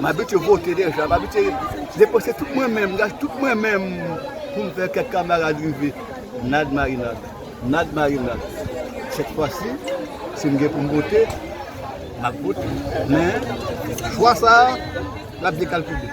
M abitye vote deja, m abitye depanse tout mwen menm, gaye tout mwen menm pou m fè kèk kamarad rive. Nad marinad, nad marinad. Sèt fwa si, si m gen pou m vote, m ap vote. Men, chwa sa a, l ap dekalkile.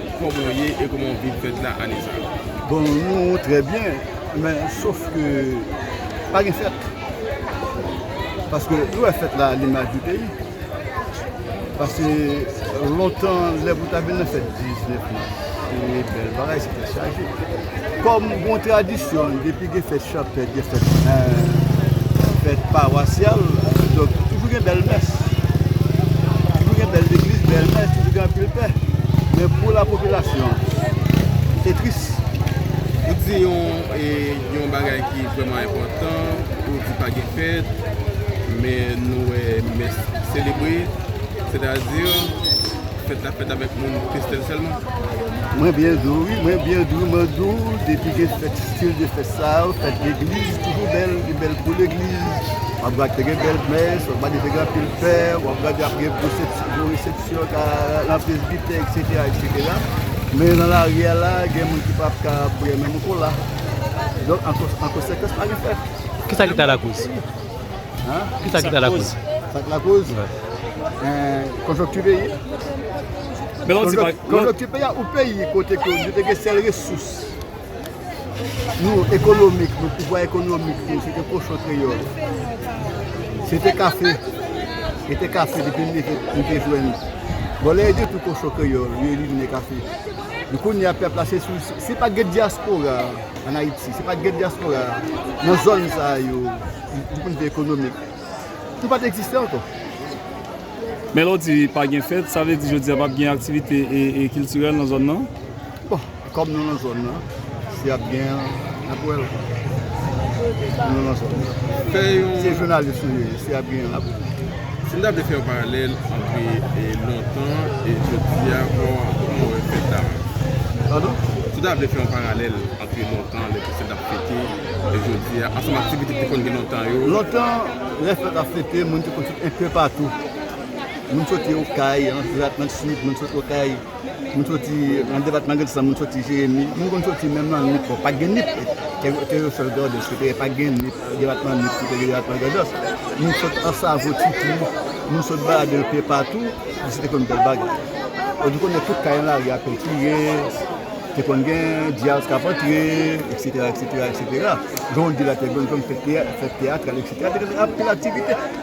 Koman w ye e koman w viv fèt la ane sa a? Bon nou trè byen men sof ke pa gen fèt paske nou wè fèt la alimaj yon peyi pase lontan lè pou ta vin nan fèt 19 mas se bèl bagay se fèt chaje. Kòm yon tradisyon, depi gen fèt chanpèt, gen fèt fèt pawasyal, donk toujou gen bèl mès. Toujou gen bèl legliz, bèl mès, toujou gen anpil pè. Men pou la popilasyon, se tris. Ou di yon bagay ki vreman enpòtan, ou di pa gen fèt, men nou wè mès selebre, sètadi... Fèt la fèt avèk moun Kestel sèlman? Mwen byen di w wi, mwen byen di w, mwen di w depi gen fèt stil de fèt sa yo, fèt legliz toujou bèl, li bèl pou legliz, w ap gad te gen bèl mès, w ap gad te gen anpil fè, w ap gad ap gen gwo resepsyon nan presbitè eksetera eksetera, men nan lari a la gen moun ki pa ap ka bwè menm kola, donk an konsekans pa gen fèt. Kisa ki ta lakoz? Kisa ki ta lakoz? Sa ki lakoz? Konjonkti peyi a. Konjonkti peyi a ou peyi kote ke yo te gen sèl resous nou ekonomik, nou pouvwa ekonomik nou se te kochon kreyòl, se te kafe, se te kafe depi nou te jwenn. Bon lè yo detwi kochon kreyòl, yo elimine kafe. Kounye a pèp la se sou, si pa gen dyaspora. an Ayiti. Se pat gen dyaspora nan zòn sa yo di pwen de vi ekonomik. Nou pat egziste ankò. Men lè w di pa gen fèt, sa vle di jodi a pap gen aktivite kiltirèl nan zòn nan? Bon, kòm nou nan zòn nan, si ap gen, n ap wè l. Nou nan zòn nan. Se jounalis nou ye, si ap gen, n ap wè l. Si m ta vle fè yon paralèl antre lontan e jodi a, kòman ou wè fèt la? Padon? Si w ta vle fè yon paralèl antre lontan, lè Kristen t ap fete, e jodi a, ansanm ak aktivite ki te konn gen lontan yo. Lontan, lè fèt ap fete, moun te konn sot enpepatou. Moun soti okay, nan dwat, nan sid, moun sot okay. Moun soti nan depatman Grandans lan, moun soti Jeremi, moun konn soti menm nan Nip, bon pat gen Nip, te yo sèl Grandans ki te gen, pat gen Nip, depatman Nip ki te gen depatman Grandans, moun sot Ansavo, Titri, moun sot balade yo pye patou, se te konn bèl bagay. Ou di konnen tout kay nan lari a pentire, te konn gen Diaz kap antre, eksetera, eksetera, eksetera. Jan w di la te gen zòn fèt teyatral, eksetera, te gen anpil aktivite.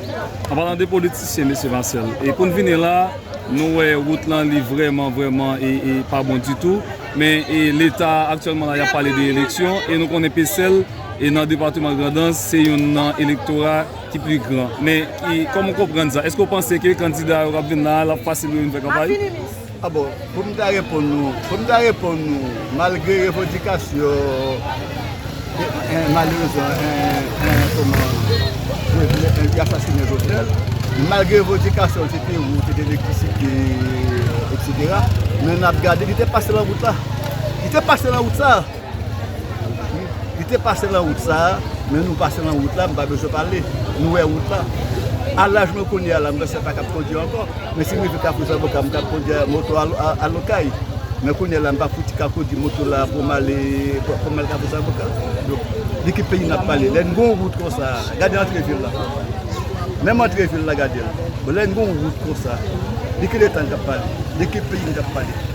An palan de politisyen mesye Marcel, e poun vini la nou wè wout lan li vrèman vrèman e pa bon ditou men e leta aktyèlman la yap pale de eleksyon e nou konnen pesèl e nan departeman grandans se youn nan elektora ki pli gran men e kòman w konprann sa eske w panse ke kandida yo kap vin la lap fasil pou yo vin fè kanpay? A bon, pou m ta reponn nou, pou m ta reponn nou, malgre revandikasyon, malerezman, kòman, yo asasinen Jovenel, malgre revandikasyon se te wout, se te elektrisite, etc. Men n ap gade, li te pase nan wout la. Li te pase nan wout sa a. Li te pase lan wout sa a, men nou pase lan wout la, m pa bezwen pale, nou wè wout la. A laj mwen kounye a la, m vese pa kab kondi ankò, men si m rive Kafou Zaboka, m kab kondi moto al Okay. Men kounye la, m pa fouti ka kondi moto la pou m ale Kafou Zaboka. Donk, de ki peyi n ap pale? Lè n gen yon wout kon sa, gade antre vil la, menm antre vil la gade l, lè n gen yon wout kon sa, de ki leta n ap pale? De ki peyi n ap pale?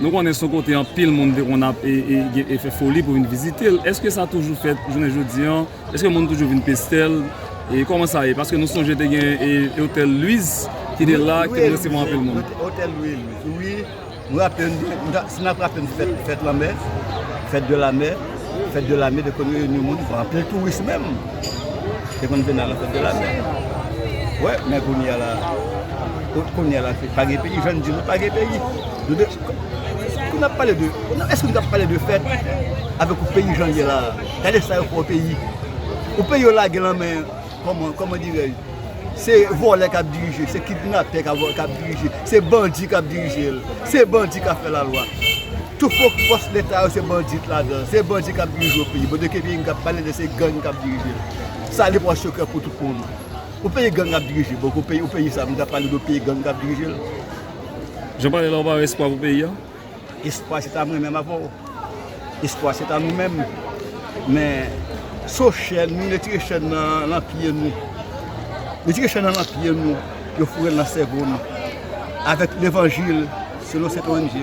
Nou konnen son kote anpil moun te konn ap e fè foli pou vin vizite l. Eske sa toujou fèt jounen jodi an? Eske moun toujou vin peste l? E kòman sa ye? Paske nou sonje te gen e otèl Lwiz ki te la ki te resevwa anpil moun. Wi, otèl Lwiz, wi. Mwen raple m, si n ap raple m fèt lanmè, fèt de lanmè. Fèt de lame te konn reyini moun pou anpil touris menm te konn vin nan lan fèt de lame wè men kounye a la kot kounye a la se pa gen peyi jwenn di nou pa gen peyi nou de kou nap pale de nan eske nou tap pale de fèt avèk ou peyi jan ye la gade sa yo fè ou peyi ou peyi yo lage lan men kòman kòman dirèj se vòlè kap dirije se kidnapè kap dirije se bandi kap dirije se bandi kap fè la lwa. Tout fo fòs leta yo se bandit ladan, se bandi kap dirije yon peyi, bondye ke peyi nou kap pale de se gang kap dirije l, sa li pran sekrè pou tout moun, yon peyi gang ap dirije, bon kon peyi, yon peyi sa moun kap pale de peyi gang kap dirije l. Jan w pale la ou pa wè espwa pou peyi a? Espwa se ta mwen menm avè w, espwa se ta nou menm, men so chèn nou retire chèn nan lan pye nou, retire chèn nan lan pye nou, yo foure l nan sèvo nou, avèk levanjil selon sent ONG.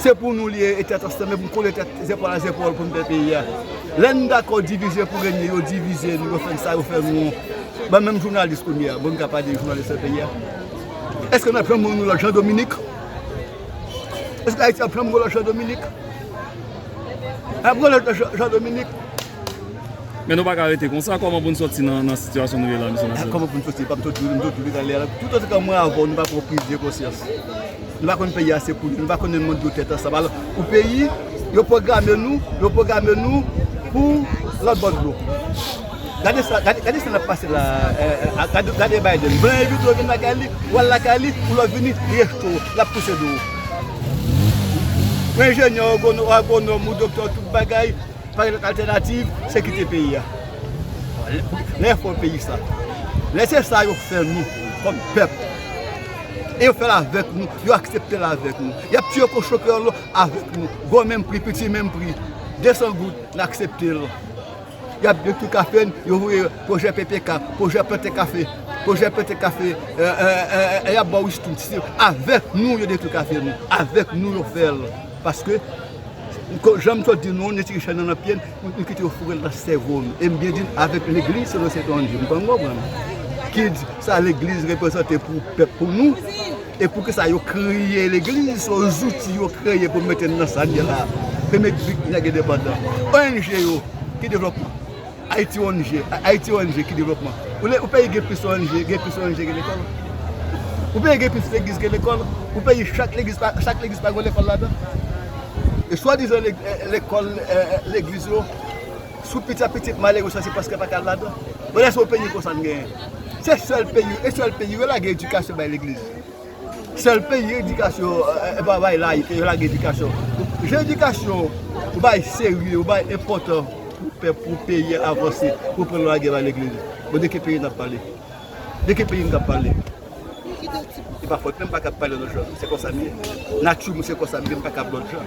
Se pou nou li ye e tèt ansanm e pou n kole tèt zèpòl a zèpòl pou n fè peyi a. Lè n dakò divize pou renye, yo divize nou, yo fè n sa, yo fè nou. Ban menm jounalis kounye a, bon n ka pa de jounalis nan peyi a? Èske n ap janm wè yon lòt Jan Dominik? Èske Ayiti ap janm gen yon lòt Jan Dominik? N ap gen yon lòt Jan Dominik? Men nou pa ka rete konsa, kòman pou n sòti nan sitiyasyon nou ye la mesye damzèl? Kòman pou n sòti? Epa m toujou di nou, m toujou di nou anlè a, tout otan ke mwen avè w nou pa pran priz de konsyans. Nou pa konn peyi a se pou nou, nou pa konnen moun yo tèt ansanm. Alò, pou peyi, yo pwograme nou, yo pwograme nou pou lòt bò dlo. Gade sa, gade sa nap pase la a, gade Biden. Blan envite w vin lakay li, ou al lakay li, ou lè w vini, li rejte w, lap pouse do w. Ou enjenyè, ou agwonòm, ou doktè, ou tout bagay. Pa gen lòt altènativ, se kite peyi a. Lè fò peyi sa. Lè se sa yo fè nou kòm pèp. E yo fè l avèk nou, yo aksepte l avèk nou. Y ap tiye kochon kreyòl yo avèk nou. Gwo menm pri, piti menm pri. 200 goud, n aksepte l. Y ap detwi kafe n, yo voye pwojè PPK, pwojè plante kafe, pwojè plante kafe, y ap ba w istri. Avèk nou yo detwi kafe nou. Avèk nou yo fè l. Paske, janm sot di nou, nou tire chè nan nan pye n, nou kite yo foure l nan sèvo n. E m byen di n, avèk legliz selon Sentonji. M pann konprann. Kids, sa legliz reprezante pou pèp pou nou, e pou kisa yo kreye legliz, se yon zouti yo kreye pou mete n nan sa n ye la. Premye bit nèg endepandan. Ong yo, ki devlòpman? Ayiti ong Ayiti ong ki devlopman Yon peyi gen plis ong gen plis ong ke lekòl Yon peyi gen plis legliz ke lekòl Yon peyi chak legliz pa chak legliz pa gen lekòl ladan l E swadizan lekòl legliz yo Sou piti a piti malere sa se paske yo pa ka al ladan l Bon èske yon peyi konsa n genyen Se sèl peyi e sèl peyi yo lage edikasyon bay legliz sèl peyi edikasyon yo pa bay layite yo lage edikasyon jan edikasyon ou bay serye ou bay enpòtan pou pèp pou peyi a avanse ou pran nou lage bay legliz bon de ki peyi nap pale de ki peyi nou tap pale se pa fòt mwen m pa ka pale lòt jan se konsa m ye nati m se konsa m ye m pa kab lòt jan.